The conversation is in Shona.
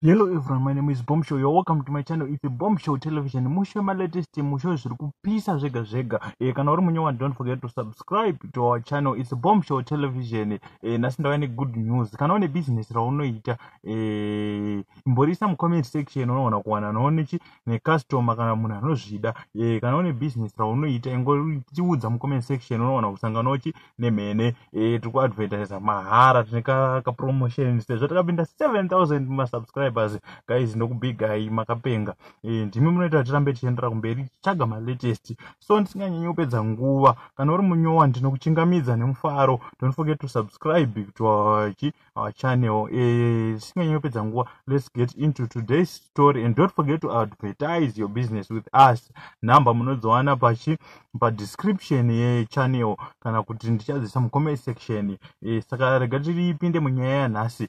Hello everyone, my name is Bomb Show. You're welcome to my channel. It's a Bomb Show Television. Musho my latest musho zviri kupisa zvega zvega. Eh kana uri munyowani don't forget to subscribe to our channel. It's a Bomb Show Television. Eh nasi ndava ne good news. Kana une business raunoita eh imborisa mu comment section unoona kuwana noone chi ne customer kana munhu anozvida. Eh kana une business raunoita ingoriudza mu comment section unoona kusangana nochi nemhene eh, tiri kuadvertisa mahara tine kapromotion sezvo takapinda 7000 masubscribers guys ndokubigai makapenga eh, ndimi munoita kuti tirambe tichiendera kumberi tichitsvaga malatest so ndisinganyanyi kupedza nguva kana uri munyowa ndinokuchingamidza nemufaro don't forget to subscribe to our our channel zvisinganyanopedza nguva let's get into today's story and don't forget to advertise your business with us number munodziwana pachi padescription yechannel kana kuti ndichadzisa mucomment section eh, saka rega tiripinde munyaya yanhasi